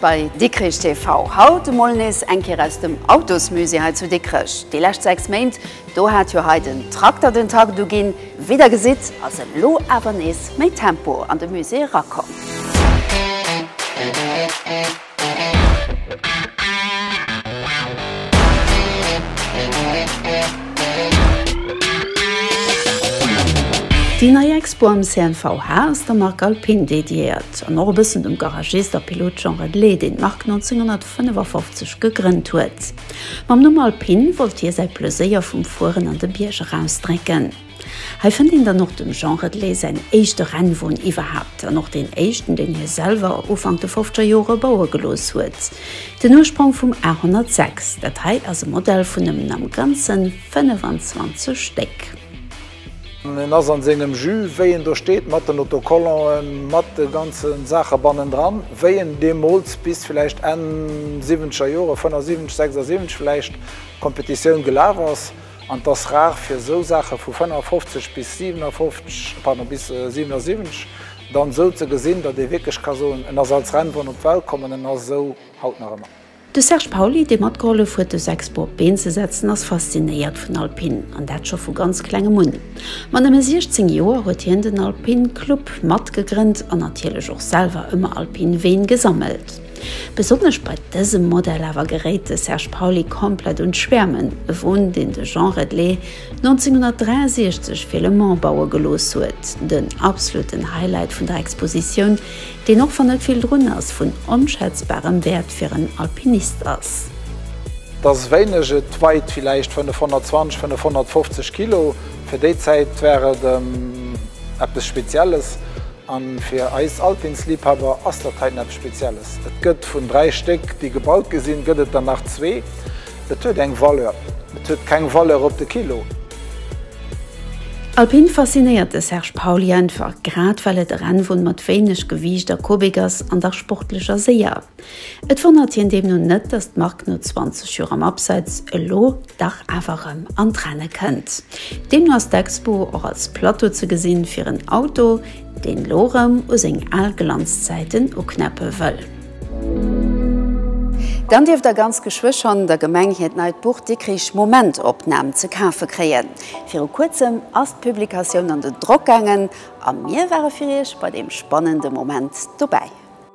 Bei Dikrich TV haut emol nees eng Kéier aus dem Autosmusée hei zu Dikrech. Déi lescht 6 Méint, do hat jo hei den Trakter den Takt uginn. Wéi der gesitt, ass elo awer nees méi Tempo an de Musée erakomm. Déi nei Expo am CNVH ass der Mark Alpin dediéiert an och e bëssen dem Garagist a Pilot Jean Redlé, deen d'Mark 1955 gegrënnt huet. Mam Numm Alpin wollt hie säi Plëséier vum Fueren an de Bierg erausdrécken. Hei fënnt een dann och dem Jean Redlé säin éischte Rennwon iwwerhaapt an och deen éischten, deen hie selwer Ufank de Fofzgerjore baue gelooss huet. Den Ursprong vum A106, dat hei ass e Modell vun nëmmen am Ganzen 25 Stéck. En ass an sengem Jus, wéi en do steet, mat den Autocollanten, mat de ganzen Saachen bannendran, wéi en deemols bis villäicht Enn 70er Joren, 75, 76 villäicht, Competitioun gelaf ass. An et ass rar fir esou Saache vu 55 bis 57, pardon, bis 77 dann esou ze gesinn, datt ee wierklech ka soen, en ass als Rennwon op d'Welt komm an en ass esou haut nach ëmmer. De Serge Pauly, dee matgehollef huet de Sexpo op d'Been ze setzen, ass faszinéiert vun Alpine, an dat scho vu ganz klengem un. Mat nëmme 16 Joer huet hien den Alpine Club matgegrënnt an natierlech och selwer ëmmer Alpine Ween gesammelt. Besonnesch bei dësem Modell awer geréit de Serge Pauly komplett un d'Schwäermen, e Won, deen de Jean Redlé 1963 fir Le Mans baue gelooss huet. Den absoluten Highlight vun der Expositioun, deen, och wann net vill drun ass, vun onschätzbarem Wäert fir en Alpinist ass. Et ass wéineg, et weit villäicht 520, 550 Kilo. Fir déi Zäit war et eppes Spezielles. An fir eis Alpinsliebhaber ass dat hei näppes Spezielles. Et gëtt vun 3 Stéck déi gebaut gi sinn, gëtt et der nach zwee. Et huet eng Valeur. Et huet keng Valeur op de Kilo. Alpin faszinéiert de Serge Pauly einfach, grad well et e Rennwon mat wéineg Gewiicht a Kubik ass, an dach sportlech a séier. Et wonnert hien deemno net, datt d'Mark no 20 Joer am Abseits elo dach awer rëm an d'Renne kënnt. Deemno ass d'Expo och als Plateau ze gesinn fir en Auto, deen elo rëm u seng al Glanzzäiten uknäppe wëll. Dann dierft der ganz geschwë schonn der Gemeng hiert neit Buch Dikrich, Momentopnahm ze kafe kréien. Viru kuerzem ass d'Publikatioun an den Drock gaangen a mir ware fir Iech bei deem spannende Moment dobäi.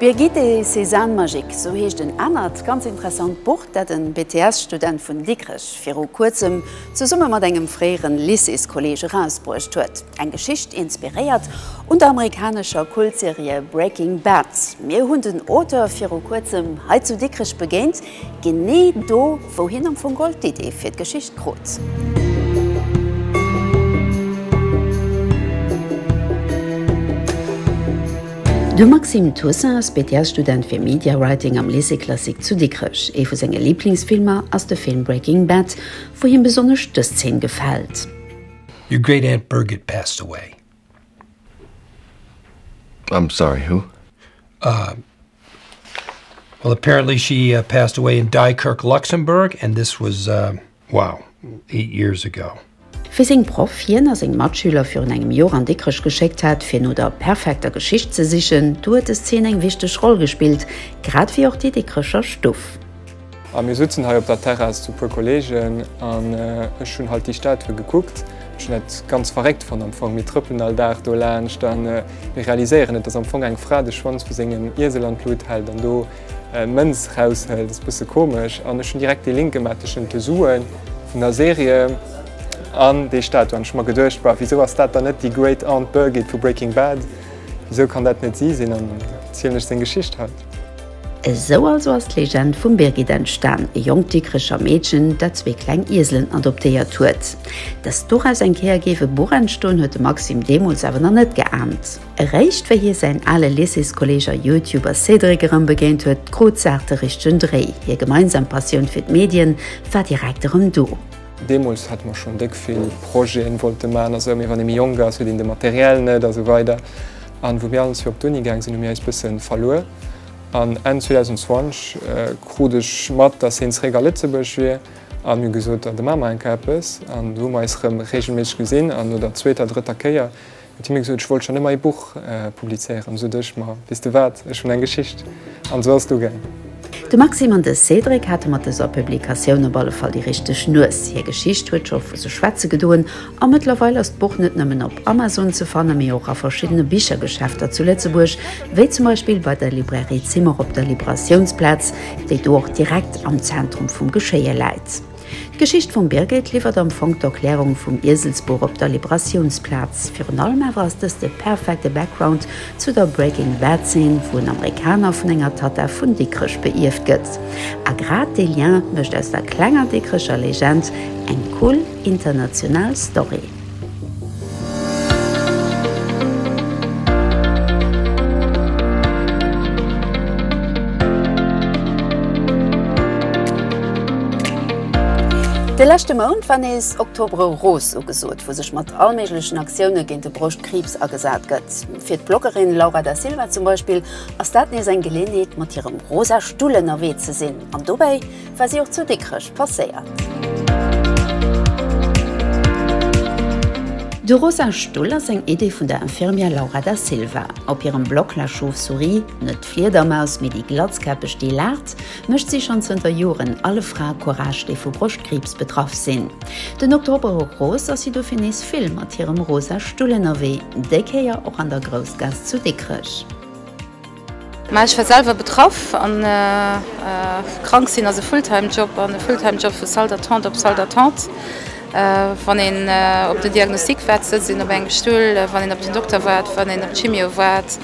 Birgit et ses ânes magiques, esou heescht en anert ganz interessant Buch, dat e BTS-Student vun Dikrech viru Kuerzem zesumme mat engem fréiere Lycéeskolleeg erausbruecht huet. Eng Geschicht inspiréiert un der amerikanescher Kultserie Breaking Bad. Mir hunn den Auteur viru Kuerzem hei zu Dikrech begéint. Genee do, wou hien am Fong geholl d'Idee fir d'Geschicht krut. De Maxime Toussaint ass BTS-Student fir Media Writing am Lycée Classique zu Dikrech. Ee vu senge Liblingsfilmer ass de Film Breaking Bad, wou him besonnesch dës Zeen gefält. Your great aunt Birgit passed away. I'm sorry, who? Uh, well, apparently she uh, passed away in Dykirk, Luxembourg, and this was, uh, wow, eight years ago. Wéi seng Proff hien a seng Matschüler virun engem Jor an Dikrech geschéckt hat, fir no der perfekter Geschicht ze sichen, do huet des Zeen eng wichteg Roll gespillt, grad wéi och déi Dikrecher Stuff. A mir sutzen hei op der Terrass zu puer Kollegen an ech hunn halt déi Statue gekuckt. Ech hunn dat ganz verréckt fonnt am Fong. Mir trëppelen all Dag do laanscht an mir realiséieren net, dass am Fong eng Fra de Schwanz vu sengem Iesel an d'Lut hält an do Mënz raushëlt. Ass e bësse komesch an ech hunn direkt dee Link gemaach tëschent de Sue vun der Serie an déi Statue an ech hu mer geduecht, bah, wisou ass dat dann net déi Great Aunt Birgit vu Breaking Bad? Wisou kann dat net si sinn? An da zielen ech seng Geschicht haut. Esou also ass d'Legend vum Birgit entstan, e jonkt Dikricher Meedchen, dat zwee kleng Ieselen adoptéiert huet. Dass doraus eng Kéier géif e Buch entstoen, huet de Maxime deemools awer nach net geahnt. Eréischt wéi hie säin ale Lycéeskolleeg a Youtuber Cédric erëm begéint huet, krut d'Saach de richtegen Dréi, hir gemeinsam Passioun fir d'Medien war direkt erëm do. Deemools hate mer schonn déck vill Projeten wollte man, a sou, mee wann ee méi jonk ass, huet een de Material net a sou weider. An wou mir all ons fir op d'Uni gaang sinn, hu mir eis bëssen verluer. An Enn 2020 krut ech mat, dass hien zeréck a Lëtzebuerg wier. An mir hu gesot, da maache mer enker eppes. An du hu mer eis rëm reegelméisseg gesinn. An no der zweeter, drëtter Kéier huet hie mir gesot, ech wollt schonn ëmmer ee Buch publizéieren. Sot ech, ma weess de wat, ech hunn eng Geschicht. An esou ass et ugaang. De Maxime an de Cédric hate mat dëser Publikatioun op alle Fall déi richteg Nues. Hir Geschicht huet scho vu sech schwätze gedoen. A mëttlerweil ass d'Buch net nëmmen op Amazon ze fanne mee och a verschiddene Bichergeschäfter zu Lëtzebuerg, wéi zum Beispill bei der Librairie Zimmer op der Liberatiounsplaz, déi do och direkt am Zentrum vum Geschéie läit. D'Geschicht vum Birgit liwwert am Fong d'Erklärung vum Ieselsbuch op der Liberatiounsplaz. Virun allem awer ass dëst de perfekte Background zu der Breaking Bad Zeen, wou en Amerikaner vun enger Tatta vun Dikrech beierft gëtt. A grad dee Lien mécht aus der klenger Dikrecher Legend eng cool, International Story. De leschte Mount war nees Octobre Rose ugesot, wou sech mat allméiglechen Aktioune géint de Broschtkriibs agesat gëtt. Fir d'Bloggerin Laura da Silva zum Beispill ass dat nees eng Geleeënheet mat hirem rosa Stull ënnerwee ze sinn an dobäi War si och zu Dikrech passéiert? De rosa Stull ass eng Idee vun der Infirmière Laura Da Silva. Op hirem Blog La Chauve-souris, net d'Fliedermaus, mee déi Glatzkäppeg déi laacht, mécht si schonn zënter Joren alle Frae Courage, déi vu Broschtkriibs betraff sinn. Den Oktober Rose ass si dofir nees vill mat hirem rosa Stull ënnerwee, déi Kéier och an der Groussgaass zu Dikrech. Mä ech war selwer betraff a krank sinn ass e Fulltime Job an e Fulltime Job vu Salle d'attente op Salle d'attente, wann een op den Diagnostic waart, sëtzt een op engem Stull, wann een op den Dokter waart, wann een op d'Chimio waart,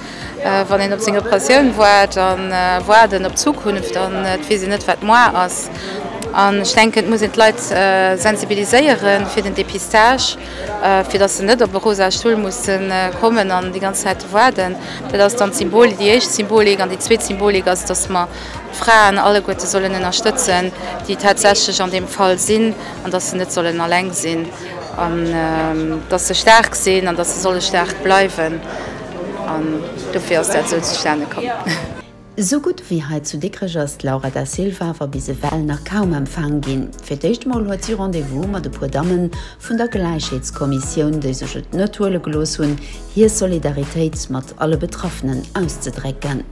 wann een op seng Operatioun waart a waarden op d'Zukunft an et weess een net wat moar ass. An ech denken et muss een d'Leit sensibiliséiere fir den Dépistage. fir datt se net op e rosa Stull musse kommen an déi ganz Zäit do waarden. Dat ass dann d'Symbol, déi éischt Symbolik. An déi zweet Symbolik ass, datt mer d'Fraen alleguerte sollen ënnerstëtzen, déi tatsächlech an deem Fall sinn, an datt se net sollen alleng sinn, an datt se staark sinn, an datt se solle staark bleiwen. An dofir ass dat esou zustane komm. Esou gutt ewéi hei zu Dikrech ass d'Laura Da Silva awer bis ewell nach kaum empfaang ginn. Fir d'éischt emol huet si Rendez-vous mat e puer Damme vun der Gläichheetskommissioun, déi sech et net huele gelooss hunn, hir Solidaritéit mat alle Betraffenen auszedrécken.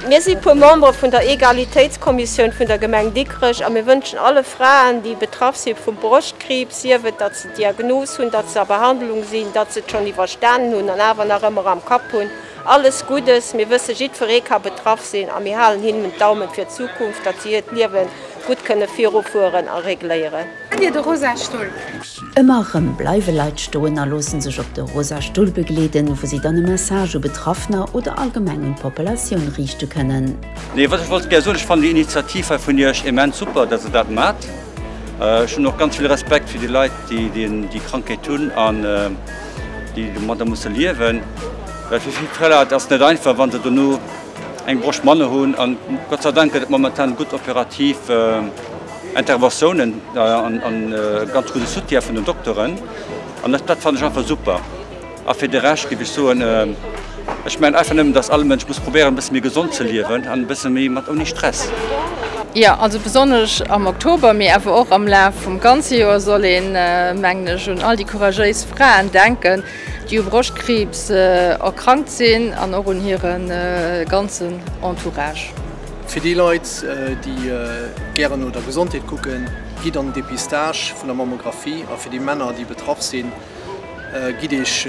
Mir si puer Membere vun der Egalitéitskommissioun vun der Gemeng Dikrech a mir wënschen alle Fraen, déi betraff si vum Broschtkriibs, sief et, datt se d'Diagnos hunn, datt se a Behandlung sinn, datt se et schonn iwwerstanen hunn an awer nach ëmmer am Kapp hunn, Alles Guddes, mir wësse jiddferee ka betraff sinn a mir halen hinnen d'Daumen fir d'Zukunft, datt si hiert Liewen gutt kënne virufueren a regléieren. Kennt dir de rosa Stull? Ëmmer rëm bleiwe Leit stoen a loosse sech op de rosa Stull begleeden, wou si dann e Message u Betraffener oder allgemeng un d'Populatioun riichte kënnen. Nee, wat ech wollt gär soen, ech fannen déi Initiativ hei vun Iech immens super, datt Der dat maacht. Ech hunn och ganz vill Respekt fir déi Leit, déi déi Krankheet hunn. déi domadder musse liewen, well fir vill Preller et ass net einfach, wa se dono eng Brosch manner hunn. An Gott sei Dank gëtt et momentan gutt operativ Interventiounen a ganz gudde Soutien vun den Dokteren. An dat fannen ech einfach super. A fir de Rescht géif ech soen, Ech mengen einfach nëmmen, dass all Mënsch muss probéieren e bësse méi gesond ze liewen an e bësse méi mat ouni Stress. Jo, also besonnesch am Oktober, mee awer och am Laf vum ganze Joer soll een, mengen ech, un all déi couragéis Fraen denken, déi u Broschtkriibs erkrankt sinn an och un hire ganzen Entourage. Fir déi Leit, déi gären no der Gesondheet kucken, gitt an den Dépistage vun der Mammographie a fir déi Männer, déi betraff sinn, Gitt Iech,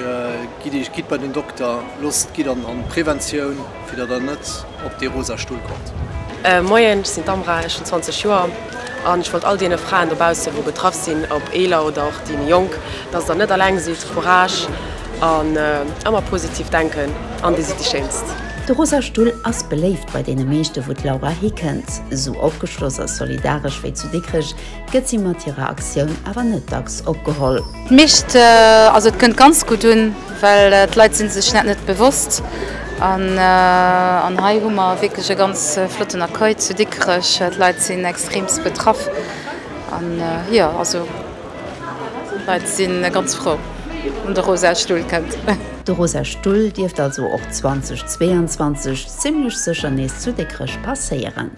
gitt Iech, gitt bei den Dokter, loosst, gitt an an d'Preventioun, fir datt der net op dee rosa Stull kommt. Moien, ech sinn d'Amra, ech hunn 20 Joer an ech wollt all deene Fraen dobaussen wou betraff sinn, ob eeler oder och déi méi jonk, datt der net alleng sidd, Courage an ëmmer positiv denken an dir sidd déi Schéinst. De rosa Stull ass beléift bei deene meeschte wou d'Laura hikënnt. Sou opgeschloss a solidaresch wéi zu Dikrech gëtt si mat hirer Aktioun awer net dacks opgeholl. D'Micht, also et kënnt ganz gutt un, well d'Leit si sech dat net bewosst. An hei hu mer wierklech e ganz flotten Accueil zu Dikrech. D'Leit sinn extreemst betraff an, jo, also d'Leit si ganz frou, wann de Rosa Stull kënnt. De Rosa Stull dierft also och 2022 zimmlech sécher nees zu Dikrech passéieren.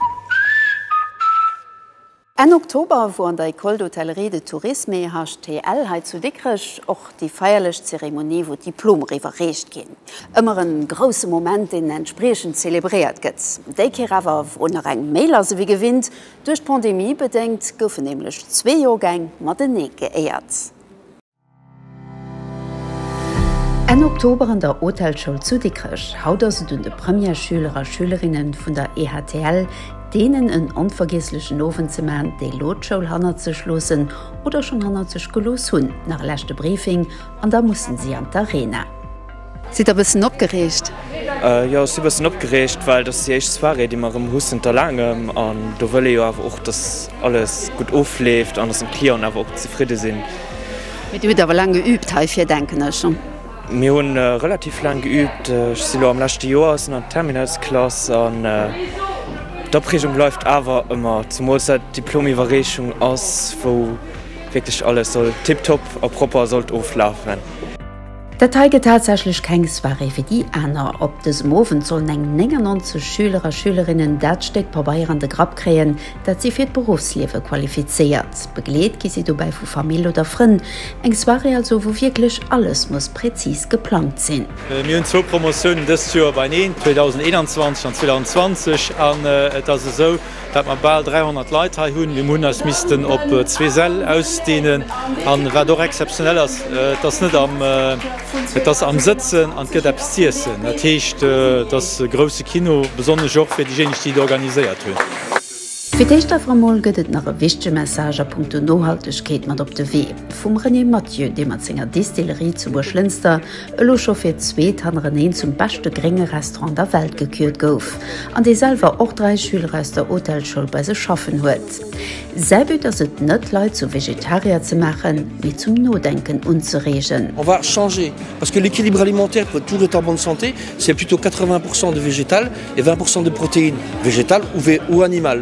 Enn Oktober wor an der École d'Hôtellerie de Tourisme, EHTL, hei zu Dikrech och déi feierlech Zeremonie wou d'Diplomer iwwerreecht ginn. Ëmmer en grousse Moment deen entspriechend zelebréiert gëtt. Déi Kéier awer wor nach eng méi lass ewéi gewinnt. Duerch d'Pandemie bedéngt goufen nämlech zwee Joergäng matenee geéiert. Enn Oktober an der Hotelschoul zu Dikrech. Haut ass et un de Premièreschüler a schülerinnen vun der EHTL deenen en onvergiesslechen Owend ze man, déi lo d'Schoul hannert sech loossen oder schon hannert sech gelooss hunn. Nach e leschte Briefing an da mussen si an d'Arena. Sidd der bëssen opgereegt? Jo, ech si bëssen opgereegt, well dat ass déi éischt Soirée, déi mer erëm hu zënter laangem. An do wëll ee jo awer och, datt alles gutt ofleeft an datt de Clienten awer och zefridde sinn. Mee Dir hutt awer laang geüübt heifir, denken ech? Mir hu relativ laang geüübt. Ech si lo am leschte Joer, sinn an der Terminalsklass an d'Opreegung bleift awer ëmmer, zemools dat d'Diplomiwwerreechung ass, wou wierklech alles soll tipptopp a propper sollt oflafen. Dat hei gëtt tatsächlech keng Soirée fir déi aner. Op dësem Owend sollen eng 99 Schüler a Schülerinnen dat Stéck Pabeier an de Grapp kréien, dat si fir d'Beruffsliewe qualifizéiert. Begleet gi si dobäi vu Famill oder Frënn. Eng Soirée also, wou wierklech alles muss präzis geplangt sinn. Mir hunn zwou Promotiounen dëst Joer beieneen, 2021 an 2020, an et ass esou, Wat mer bal 300 Leit hei hunn, mir hunn eis missten op zwee Säll ausdeenen. An wat och exzeptionell ass, et ass net am, et ass am Sëtzen an et gëtt eppes z'iessen. Dat heescht, et ass e grousse Kino, besonnesch och fir déijéineg, déi et organiséiert hunn. Fir d'éischt awer emol gëtt et nach e wichtege Message a punkto Nohaltegkeet mat op de Wee, vum René Mathieu, dee mat senger Distillerie zu Buerglënster elo scho fir d'zweet hannereneen zum beschte grénge Restaurant an der Welt gekürt gouf an dee selwer och dräi Schüler aus der Hotelschoul bei sech schaffen huet. Säi But ass et net, Leit zu Vegetarier ze maachen, mee zum Nodenken unzereegen. On va changer parce que l'équilibre alimentaire pour être pour être en bonne santé c'est plutôt 80 pourcent de végétal et 20 pourcent de protéines, végétales ou animales.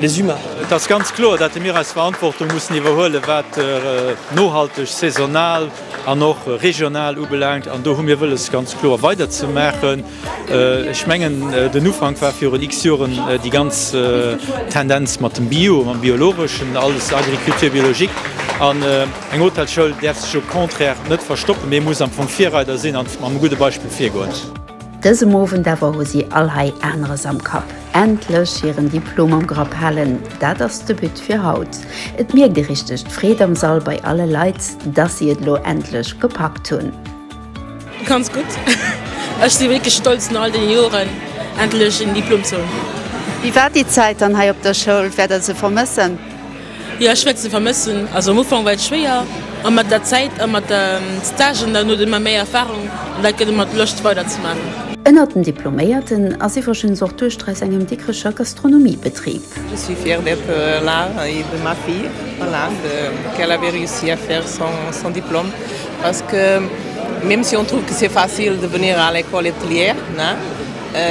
Les humains. Et ass ganz kloer, dat de mir eis Verantwortung mussen iwwerhuelen, wat nohalteg, saisonal an och regional ubelaangt. An do hu mir wëlles, ganz kloer weiderzemaachen. Ech mengen, den Ufank war virun X Joren déi ganz Tendenz mat dem Bio, mam Biologeschen, alles Agriculture biologique. An eng Hotelsschoul däerf sech au contraire net verstoppen, mee muss am Fong Virreider sinn an mam gudde Beispill virgoen. Dësem Owend awer hu si all hei aneres am Kapp. Endlech hiren Diplom am Grapp halen, dat ass de But fir haut. Et mierkt ee richteg d'Freed am Sall bei alle Leit, dass si et elo endlech gepackt hunn. Ganz gutt. Ech si wierklech stolz no all deene Joren endlech en Diplom ze hunn. Wéi war déi Zäit dann hei op der Schoul? Wäert der se vermëssen? Jo ech wäert se vermëssen. Also am Ufank war et schwéier a mat der Zäit a mat de Stagen dann huet ee ëmmer méi Erfarung an dat gëtt ëmmer d'Loscht weider ze maachen. Ënnert den Diploméierten ass iwwregens och d'Duechter aus engem Dikrecher Gastronomiebetrib. Je suis fière d'être là et de ma fille voilà de qu'elle avait réussi à faire son son diplôme parce que même si on trouve que c'est facile de venir à l'école hôtelière hein,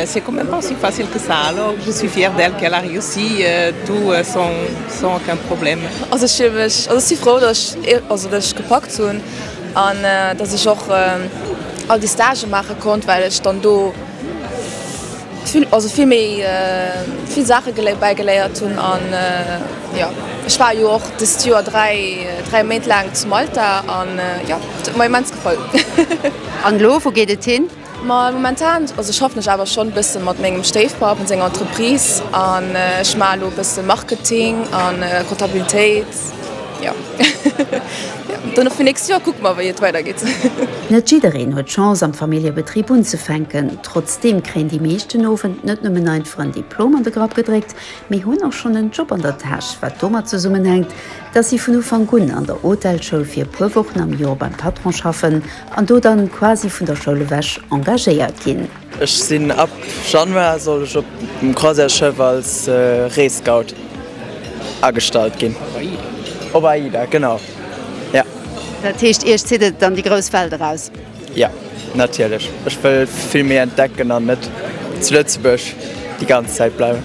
C'est quand même pas si facile que ça, alors je suis fière d'elle qu'elle a réussi tout sans aucun problème. Also ech fille mech, also ech si frou dass ech, also dass ech gepackt hunn an dass ech och all déi Stagë maache konnt, well ech dann do vill, also vill méi vill Saache bäigeléiert hunn an jo ech war jo och dëst Joer dräi, dräi Méint laang zu Malta an jo et huet mer immens gefall. An elo, wou geet et hin? Ma momentan, also schaffen ech awer schonn e bësse mat mengem Stéifpapp an senger Entreprise an ech maache lo e bësse Marketing a Comptabilitéit, jo. Jo, an dann fir d'nächst Joer kucke mer, wéi et weidergeet. Net jiddereen huet d'Chance am Familljebetrib unzefänken. Trotzdeem kréien déi meescht den Owend net nëmmen einfach en Diplom an de Grapp gedréckt, mee hunn och schonn en Job an der Täsch, wat domat zesummenhänkt, dass si vun Ufank un an der Hotelschoul fir e puer Wochen am Joer beim Patron schaffen, An do dann quasi vun der Schoul ewech engagéiert ginn. Ech sinn ab Januar soll ech op dem Croisièresschëff als Rees-Scout agestallt ginn. Op AIDA? Op AIDA, genau, jo. Dat heescht, Iech zitt et an déi grouss Welt eraus? Jo, natierlech. Ech wëll vill méi entdecken an net zu Lëtzebuerg déi ganz Zäit bleiwen.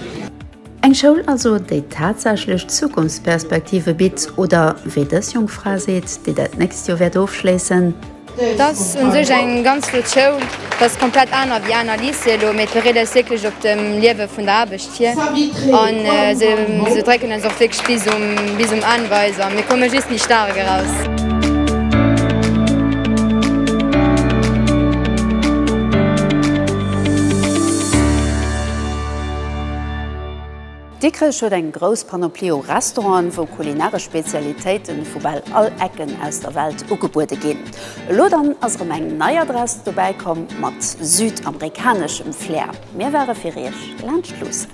Eng Schoul also, déi tatsächlech Zukunftsperspektive bitt, oder wéi dës jonk Fra seet, déi dat nächst Joer wäert ofschléissen. Et ass un sech eng ganz flott Schoul. Et ass komplett aner wéi aner Lycéeë elo, mee et bereet eis wierklech op dem Liewe vun der Aarbecht vir. An se drécken eis och wierklech bis um Enn bei eis an. Mir komme just méi staark eraus. Dikrech huet eng grouss Panoplie u Restauranten, wou kulinaresch Spezialitéite vu bal all Ecken aus der Welt ugebuede ginn. Elo dann ass erëm eng nei Adress dobäi komm, mat südamerikaneschem Flair. Mir ware fir Iech laanscht luussen.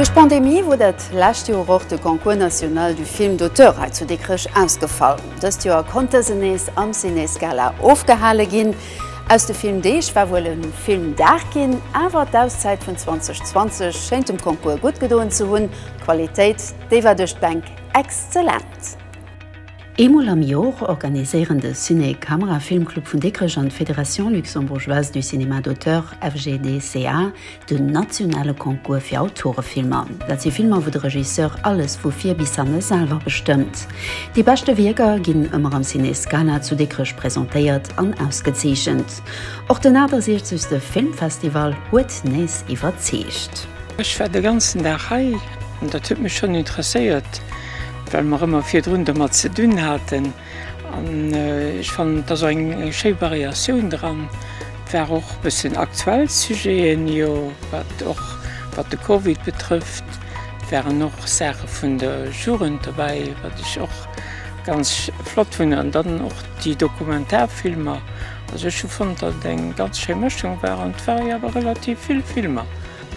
Duerch d'Pandemie wor dat lescht Joer och de Concours National du Film d'Auteur hei zu Dikrech ausgefall. Dëst Joer konnt dësen nees am Ciné Scala ofgehale ginn. Aus de Filmdeeg war wuel e Filmdag ginn, awer d'Auszäit vun 2020 schéint dem Concours gutt gedoen ze hunn, d'Qualitéit, déi war duerch d'Bänk exzellent. Eemol am Jor organiséieren de Ciné Camera Filmclub vun Dikrech an d'Fédération Luxembourgeoise du Cinéma d'Auteur, FGDCA, den nationale Concours fir Autorefilmer. Dat si Filmer, wou de Regisseur alles vu vir bis hanne selwer bestëmmt. Déi beschte Wierker ginn ëmmer am Ciné Scala zu Dikrech presentéiert an ausgezeechent. Och den 68. Filmfestival huet nees iwwerzeegt. Ech war de ganzen Dag hei an dat huet mech schonn interesséiert. well mer ëmmer virdrun domat ze dinn haten an ech fannen et ass och eng schéi Variatioun dran. Et war och e bëssen aktuell Sujeten, jo wat och wat de Covid betrëfft. Et waren och Saache vun der Jugend dobäi, wat ech och ganz flott fannen an dann och déi Dokumentarfilmer. Also ech hu fonnt, datt et eng ganz schéi Mëschung war an et ware jo awer relativ vill Filmer.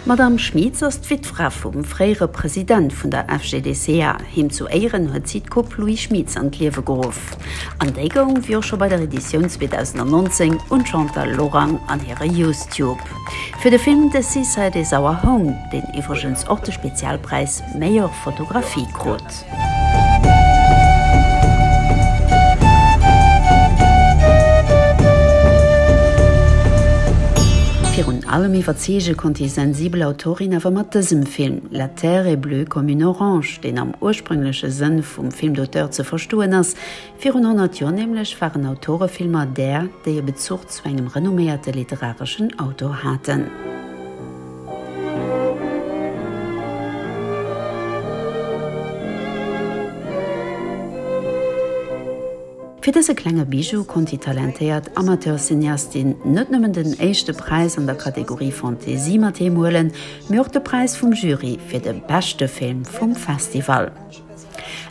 D'Madame Schmitz ass d'Wittfra vum fréiere President vun der FGDSEA. Him zu Éieren huet si d'Coupe Louis Schmitz an d'Liewe geruff. An déi goung, wéi och scho bei der Editioun 2019, un d'Chantal Lorang an hire Youstube fir de Film The Seaside Is Our Home, deen iwwregens och de Spezialpräis Meilleure Photographie krut. Virun allem iwwerzeege konnt déi sensibel Autorin awer mat dësem Film La terre est bleue comme une orange, deen am ursprüngleche Sënn vum Film d'auteur ze verstoen ass, Virun 100 Joer nämlech waren Autorefilmer där, déi e Bezuch zu engem renomméierte literareschen Autor haten. Fir dëse klenge Bijou konnt déi talentéiert Amateurcineastin net nëmmen den éischte Präis an der Kategorie Fantasie mat heem huelen, mee och de Präis vum Jury fir de beschte Film vum Festival.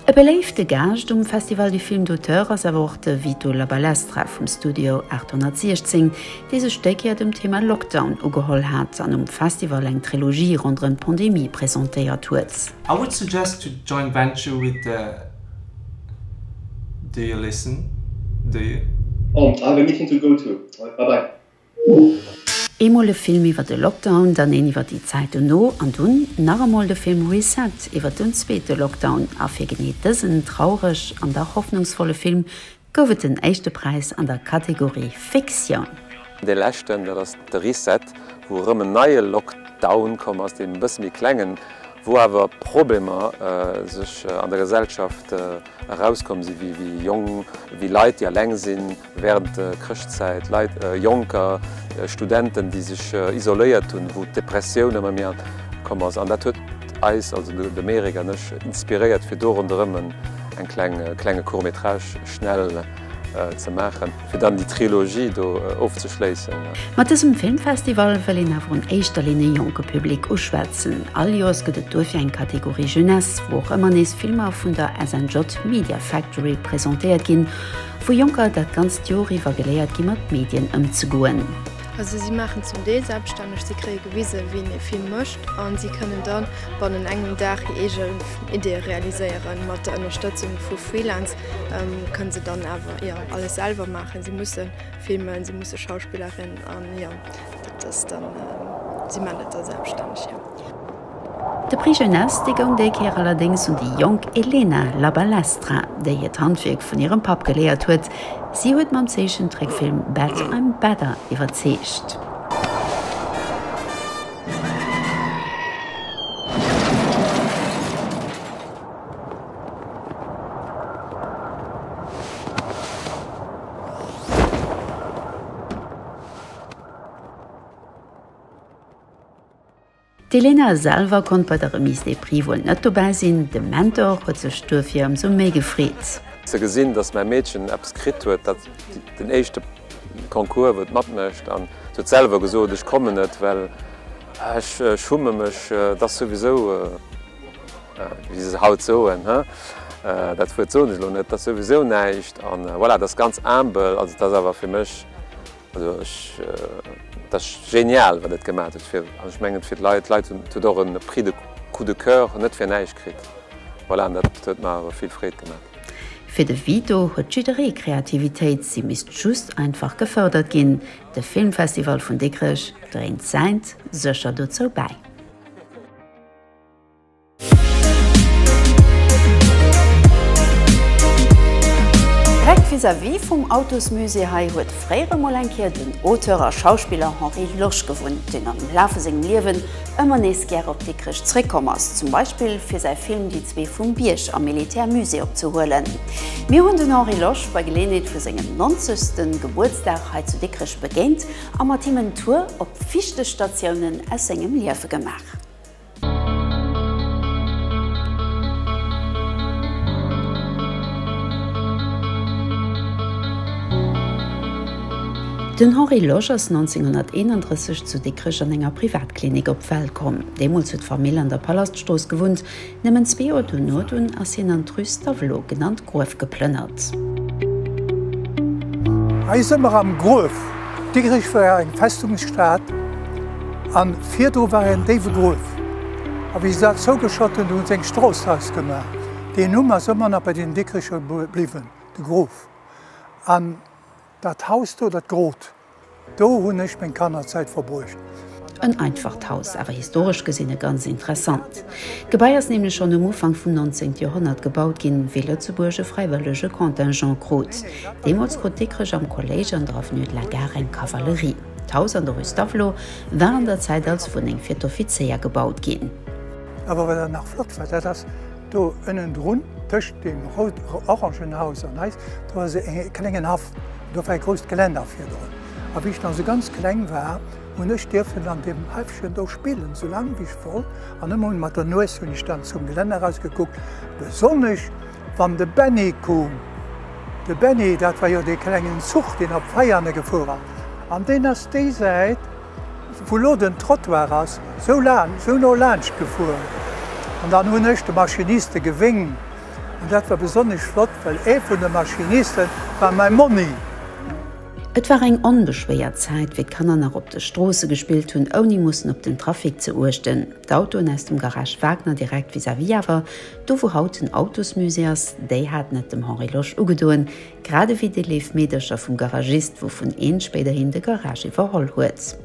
E beléifte Gaascht um Festival du Film d'Auteur ass awer och de Vito Labalestra vum Studio 816, dee sech déi Kéier dem Thema Lockdown ugeholl hat an um Festival eng Trilogie ronderëm d'Pandemie presentéiert huet. I would suggest to joint venture with the Do you listen? Do you? Home, I have a meeting to go to. Bye bye. Eemol e Film iwwer de Lockdown, dann een iwwer déi Zäit dono an dunn nach emol de Film Reset iwwer den zweete Lockdown. A fir genee dësen traureg an dach hoffnungsvolle Film gouf et den éischte Präis an der Kategorie Fiktioun. Dee leschten, dat ass de Reset, wou erëm en neie Lockdown komm ass, deen e bësse méi kleng en, wou awer Problemer sech an der Gesellschaft erauskomm sinn, wéi Jong, wéi Leit, déi aleng sinn, Während der Chrëschtzäit, Leit, Jonker, Studenten, déi sech isoléiert hunn, wou d'Depressioun ëmmer méi komm ass, an dat huet eis, also de Merik an ech, inspiréiert fir do ronderëm en kleng klenge Court métrage schnell ze maachen, fir dann déi Trilogie do ofzeschléissen. Mat dësem Filmfestival wëll een awer an éischter Linn e jonke Public uschwätzen. All Joers gëtt et duerfir eng Kategorie Jeunesse, wou och ëmmer nees Filmer vun der SNJ Media Factory presentéiert ginn. Vu Jonker dat ganzt Jor iwwer geléiert gi mat Medien ëmzegoen. Also si maachen zum Deel selbstänneg, si kréie gewise wéi een ee Film mécht a si kënnen da bannen engem Dag hir eegen Ideeë realiséieren. Mat der Ënnerstëtzung vu Freelance kënne se dann awer jo alles selwer maachen, si musse filmen, si musse Schauspillerin an jo dat ass dann, si maachen dat da selbstänneg jo. De Prix Jeunesse, dee goung déi Kéier allerdéngs un déi jonk Elena Labalestra, déi hiert Handwierk vun hirem Papp geléiert huet. Si huet mam Zeechentrickfilm Bad I'm Badder iwwerzeegt. D'Elena selwer konnt bei der Remise des Prix wuel net dobäi sinn, de Mentor huet sech duerfir ëmsou méi gefreet. Ze gesinn, datt mäi Meedchen eppes kritt huet, dat den éischte Concours, wou et matmécht, an se huet selwer gesot, ech kommen net, well ech schumme mech, et ass souwisou, wéi se haut soen, dat Wuert soen ech elo net, et ass souwisou näischt, an voilà, et ass ganz humble, also et ass awer fir mech Also ech, dat ass genial wat et gemat huet fir, an ech mengen et fir d'Leit, d'Leit hunn, et huet och en Prix de coup de coeur net fir näischt kritt, voilà, an dat huet mer awer vill Freed gemat. Fir de Vito huet jidderee Kreativitéit, si misst just einfach gefërdert ginn. De Filmfestival vun Dikrech dréint säint sécher dozou bäi. Direkt vis-à-vis vum Autosmusée hei huet fréier emol eng Kéier den Auteur a Schauspiller Henri Losch gewunnt, deen am Laf vu sengem Liewen ëmmer nees gäre op Dikrech zeréckkomm ass, zum Beispill fir säi Film Die Zwee vum Bierg am Militärmusée opzehuelen. Mir hunn den Henri Losch bei Geleeënheet vu sengem 90. Gebuertsdag hei zu Dikrech begéint a mat him en Tour op wichteg Statiounen aus sengem Liewe gemaach. Den Henri Losch ass 1931 zu Dikrech an enger Privatklinik op d'Welt komm. Deemools huet d'Famill an der Palaststrooss gewunnt. Nëmmen zwee Joer dono dunn ass hien an d'Rue Stavelot, genannt Gruef, geplënnert. Hei si mer am Gruef. Dikrech war eng Festungsstad an virdru war en déiwe Gruef. A wéi se dat zougeschott hunn, hu se eng Strooss draus gemaach. Deen Numm ass ëmmer nach bei den Dikrecher bliwwen, de Gruef. An dat Haus do, dat Grot, do hunn ech meng Kannerzäit verbruecht. En einfacht Haus, awer historesch gesinn e ganz interessant. D'Gebai ass nämlech schonn um Ufank vum 19 Joerhonnert gebaut ginn, wéi Lëtzebuerg e fräiwëllege Contingent krut. Deemools krut Dikrech am Kolléisch an der Avenue de la Gare eng Kavallerie. D'Haus an der Rue Stavelot war an der Zäit als Wunneng fir d'Offizéier gebaut ginn. Awer wat nach flott war, dat ass do ënnendrun, tëscht deem rout-orangen Haus an eis, do ass e klengen Haff, do war e grousst Gelänner virdrun. A wéi ech nach esou ganz kleng war, Hunn ech dierfen an deem Häffchen do spillen, sou laang wéi ech wollt, an ëmmer mat der Nues hunn ech dann zum Gelänner eraus gekuckt, besonnesch wann de Benny koom. De Benny, dat war jo dee klengen Zuch, deen op Veianen gefuer ass, an deen ass déi Säit, wou lo den Trottoir ass, sou laang, sou no laanscht gefuer. An dann hunn ech de Maschiniste gewéng, an dat war besonnesch flott, well ee vun de Maschiniste war mäi Monni. Et war eng onbeschwéiert Zäit, wéi d'Kanner nach op de Stroosse gespillt hunn, ouni mussen op den Trafic ze uechten. D'Autoen aus dem Garage Wagner direkt vis-à-vis awer, do wou haut den Autosmusée ass, déi haten et dem Henri Losch ugedoen, grad ewéi déi léif Meedercher vum Garagist, wouvun eent spéiderhin de Garage iwwerholl huet.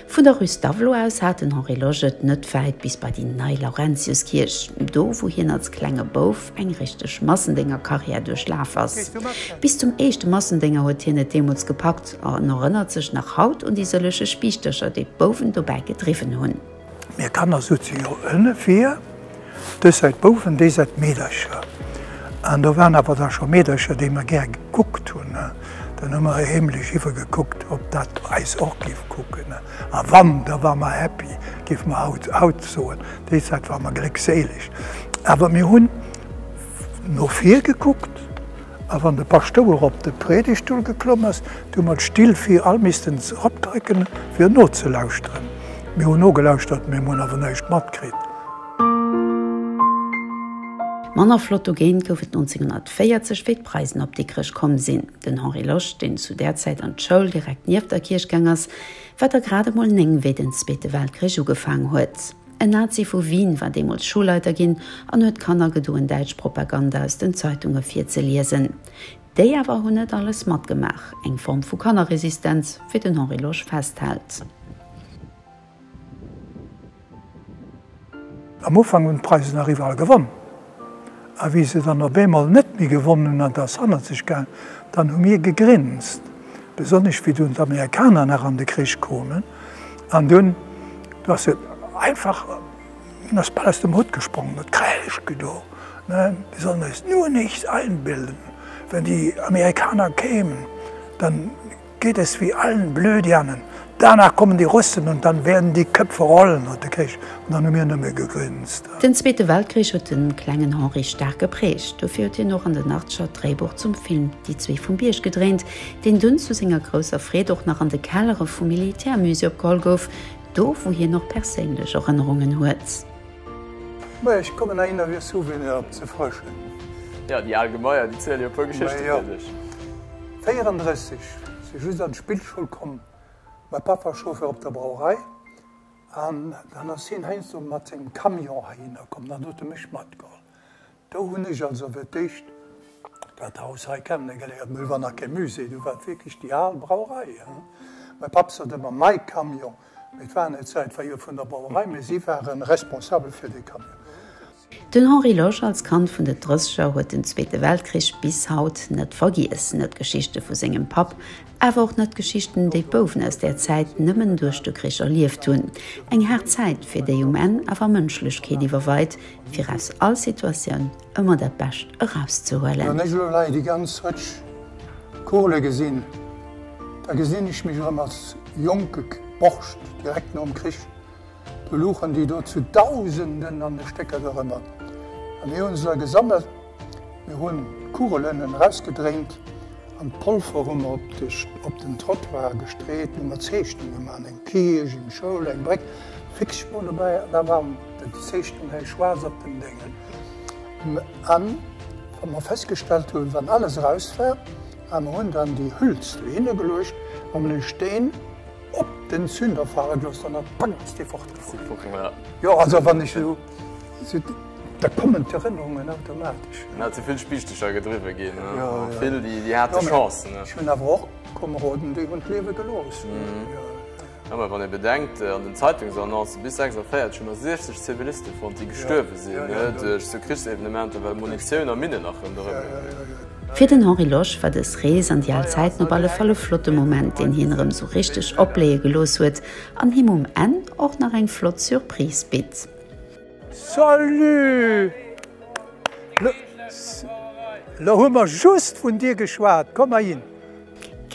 Vun der Rue Stavelot aus hat den Henri Loge et net wäit bis bei déi nei Laurentiuskierch, do wou hien als klenge Bouf eng richteg Massendéngerkarriär duerchlaf ass. Bis zum éischte Massendénger huet hien et deemools gepackt an erënnert sech nach haut un déi sëlleche Spiichtercher, déi d'Bouwen dobäi gedriwwen hunn. Mir Kanner souze jo ënne vir, dës Säit Bouwen, déi Säit Meedercher. An do waren awer da scho Meedercher, déi mer gär gekuckt hunn. Dann hu mer heemlech iwwergekuckt, ob dat eis och géif kucken. A wann, da ware mer happy, géife mer haut soen. Déi Zäit ware mer gléckséileg. Awer mir hunn no vir gekuckt. A wann de Paschtouer op de Predigtstull geklomm ass, da hu mer d'Still fir all missten eropdrécken, fir nozelauschteren. Mir hunn nogelauschtert, mee mer hunn awer näischt matkritt. Manner flott dogéint gouf et 1940, wéi d'Preisen op Dikrech komm sinn. Den Henri Losch, deen zu där Zäit an d'Schoul direkt nieft der Kierch gaang ass, war der grad emol néng, wéi den Zweete Weltkrich ugefaang huet. En Nazi vu Wien war deemools Schoulleiter ginn an huet Kanner gedoen, däitsch Propaganda aus den Zeitunge virzeliesen. Déi awer hunn net alles matgemaach, eng Form vu Kannerresistenz, wéi den Henri Losch festhält. Am Ufank hunn d'Preisen nach iwwerall gewonnen. A wéi se dann op eemol net méi gewonn hunn an t'ass hannert sech gaang, dann hu mir gegrinst, besonnesch wéi dunn d'Amerikaner nach an de Krich koumen, an dunn ass se einfach, dunn ass bal aus dem Hutt gesprongen, huet Kräisch gedoen, ne, wir sollen uns nur nichts einbilden, wenn die Amerikaner kämen, dann Geht es wie allen Blödianen, danach kommen die Russen und dann werden die Köpfe rollen, huet de Krich an dann hu mir nëmme gegrinst. Den Zweete Weltkrich huet de klengen Henri staark geprägt. Dofir huet hien och an den Artscher d'Dréibuch zum Film Die Zwee vum Bierg gedréint, deen dunn zu senger grousser Freed och nach an de Kellere vum Militärmusée opgeholl gouf, do wou hien och perséinlech Erënnerungen huet. Majo, ech kommen ahinner fir Souveniren op ze frëschen. Jo, déi al Gebaier, déi ziele jo e puer Geschichte fir sech. Majo, 34 si just an d'Spillschoul komm, mäi Papp war Chauffeur op der Brauerei, an dann ass hien heiansdo mat sengem Camion heihinner komm, dann huet e mech matgeholl. Do hunn ech also fir d'éischt dat Haus hei kennegeléiert. Mol war nach kee Musée, do war et wierklech déi al Brauerei. Mäi Papp sot ëmmer mäi Camion, mee et war net säin, et war jo vun der Brauerei, mee si ware responsabel fir dee Camion. Den Henri Losch als Kand vun den Drësseger huet den Zweete Weltkrich bis haut net vergiess, net d'Geschichte vu sengem Papp, awer och net d'Geschichten, déi d'Bouwen aus där Zäit nëmmen duerch de Krich erlieft hunn. Eng haart Zäit, fir déi um Enn awer Mënschlechkeet iwwerweit, fir aus all Situatioun ëmmer dat Bescht erauszehuelen. Wann ech elo hei déi ganz Rëtsch Kole gesinn, da gesinn ech mech erëm als jonke Borscht direkt nom Krich. Do luchen déi do zu Dausenden an de Stécker dorëmmer a mir hunn se da gesammelt. Mir hunn d'Kugelen erausgedréint an d'Polver hu mer op den Trottoir gestreet, hu mer Zeechnung gemaach, eng Kierch, eng Schoul, eng Bréck, fix Spuer dobäi an da waren déi Zeechnung hei schwaarz op den Déngen. An wa mer festgestellt hunn, wann alles eraus war, a mer hunn dann déi Hüls dohinne geluecht, hu mer de Steen op den Zünder fale gelooss, dann ass d'Bank ass dee fortgefuer. Jo, also wann ech esou. Da kommen d'Erënnerungen automatesch. En hat ze vill Spiichtecher gedriwwe ginn. Vill, déi hate Chancen. Ech hunn awer och Komeroden, déi hunn d'Liewe gelooss. Jo, mä wann ee bedenkt, an den Zeitungsannoncen, bis 46 hu mer 60 Ziviliste fonnt, déi gestuerwe sinn duerch esou Krichsevenementer, well Munitioun a Minnen nach rënderëm lagen. Fir den Henri Losch war dës Rees an déi al Zäiten op alle Fall e flotte Moment, deen hien erëm esou richteg opbléie gelooss huet An him um Enn och nach eng flott Surprise bitt. Salut! Lo hu mer just vun dir geschwat. Komm heihin!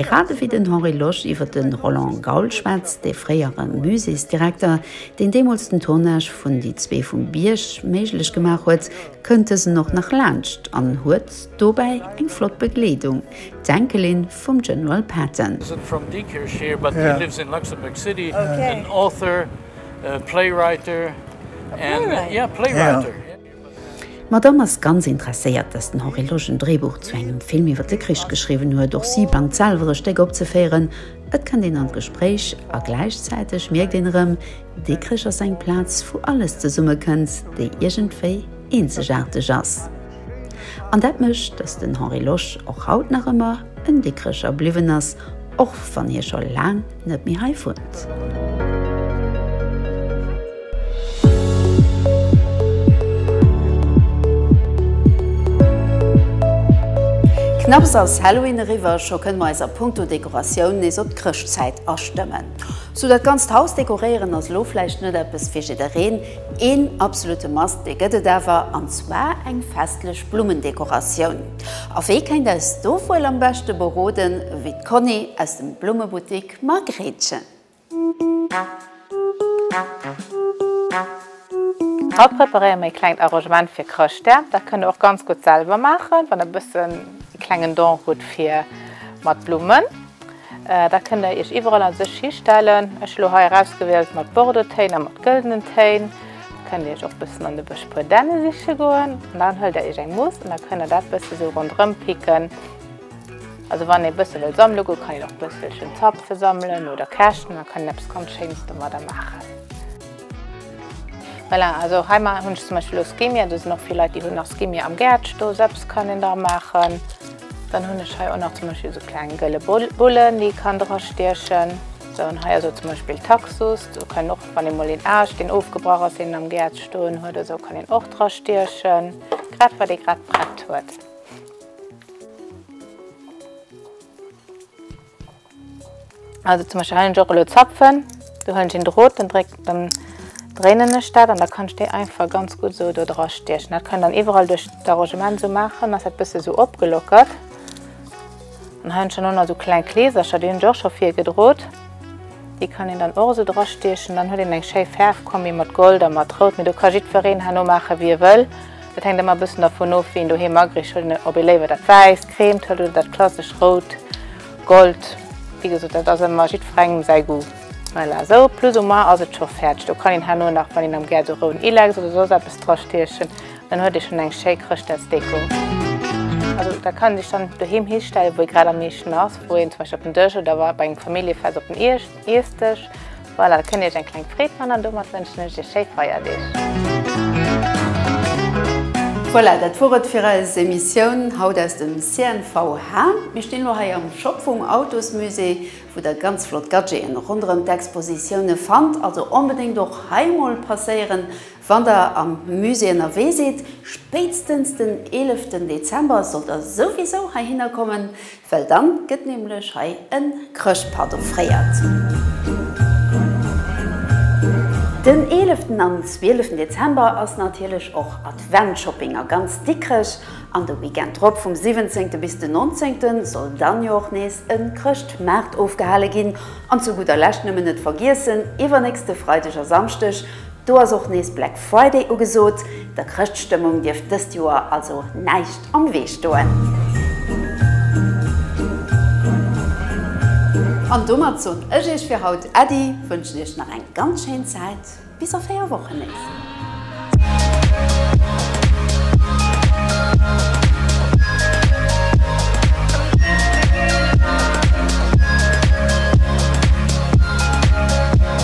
Grad ewéi den Henri Losch iwwer de Roland Gaul schwätzt, dee fréiere Muséesdirekter, deen deemools den Tournage vun Die Zwee vum Bierg méiglech gemaach huet, kënnt dësen och nach laanscht an huet, Dobäi eng flott Begleedung, d'Enkelin vum General Patton. D'Madame ass ganz interesséiert, dass den Henri Loge en Dréibuch zu engem Film iwwer de Krich geschriwwen huet. Och si bangt selwer e Stéck opzeféieren. Et kënnt een an d'Gespréich a gläichzäiteg mierkt een erëm, dee Krich ass eng Plaz, wou alles zesummekënnt, déi iergendwéi eenzegaarteg ass. An dat mécht, datt den Henri Losch och haut nach ëmmer en Dikrecher bliwwen ass, och wann hie scho laang net méi hei wunnt. Knapps ass Halloween eriwwer, scho kënne mer eis a Punkto Dekoratioun nees op d'Chrëschtzäit astëmmen. Sou dat ganzt Haus dekoréieren ass elo vläicht net eppes fir jiddereen. Een absolute Must, dee gëtt et awer, an zwar eng festlech Blummendekoratioun. A wee kéint eis do wuel am beschte beroden wéi d'Conny aus dem Blummebuttik Margréitchen. Haut preparéiere mir ee klengt Arrangement fir Chrëschtdag. Dat kënnt der och ganz gutt selwer maachen, wann der e bëssen ee klengen Don hutt fir mat Blummen. Dat kënnt der iech iwwerall an sech histellen. Ech hu lo hei erausgewielt mat Bordeauxtéin a mat gëldenen Téin. Der kënnt der iech och bëssen an de Bësch puer Dänne siche goen. An dann huelt der iech eng Muss an da kënnt der dat bësse sou ronderëm picken. Also wann ee bësse wëll sammele goen, kann een och bësselchen Zapfen sammelen oder Käschten, da kann een eppes ganz Schéines domadder maachen. Voilà, also hei hunn ech zum Beispill lo Skimmier, do sinn och vill Leit déi hunn nach Skimmier am Gäert stoen, sou eppes kann een dra maachen. Dann hunn ech hei och nach zum Beispill esou kleng gëlle Bullen, déi kann dra stiechen. Sou, an hei ass och zum Beispill Taxus. Do kann och, wann ee mol een Aascht, deen ofgebrach ass, deen een am Gäert stoen huet oder sou, kann een och dra stiechen. Grad, wat ee grad prett huet. Also zum Beispiel hei och elo zapfen, do hunn ech en Drot, dann dréck, dann dréinen ech dat an da kann ech déi einfach ganz gutt esou do dra stiechen. Dat kann dann iwwerall duerch d'Arrangement esou maachen, ass dat bësse esou opgelockert. An hei hunn ech dann och nach esou kleng Kleesercher, déi hunn ech och scho vir gedrot. Déi kann een dann och esou dra stiechen, dann huet een eng schéi Fäerfkombi mat Gold a mat Rout, mee do ka jiddwereen herno maachen, wéi e wëll. Dat hänkt ëmmer e bëssen dervun of, wéi een doheem agrichelt, ob ee léiwer dat Wäisst, Cremt huet oder dat klassesch Rout. Gold, wéi gesot, dat ass ëmmer jiddferengem säi Goût. Voilà, sou plus ou moins ass et scho fäerdeg. Do kann een herno nach, wann een am gär do roun Ilex oder soss eppes drastiechen, dann huet ee schonn eng schéi Chrëschtdagsdeko. Also dat kann ee sech dann doheem histellen, wou ee grad am meeschten ass, wou een zum Beispill op den Dësch oder bei engem Familljefest op den Iessdësch. Voilà, da kënnt Dir Iech eng kleng Freed man an domat wënschen ech Iech schéi Feierdeeg. Voilà, dat wor et fir eis Emissioun haut aus dem CNVH. Mir stinn elo hei am Shop vum Autosmusée, wou der ganz flott Gadgeten ronderëm d'Expositioune fannt. Also onbedéngt och hei mol passéieren. Wann der am Musée ënnerwee sidd, spéitstens den 11 ten Dezember sollt der souwisou heihinner kommen, well dann gëtt nämlech hei en Chrëschtpart offréiert. Den 11 ten an 12 ten Dezember ass natierlech och Adventshopping a ganz Dikrech, an de Weekend drop vum 17 ten bis den 19 ten soll dann jo och nees en Chrëschtmaart ofgehale ginn. An zu gudder Lescht nëmmen net vergiessen, iwwernächste Freideg a Samschdeg Do ass och nees Black Friday ugesot, der Chrëschtstëmmung dierft dëst Joer also näischt am Wee stoen. An domat soen ech iech fir haut Äddi, wënschen iech nach eng ganz schéin Zäit, bis a 4 Wochen nees.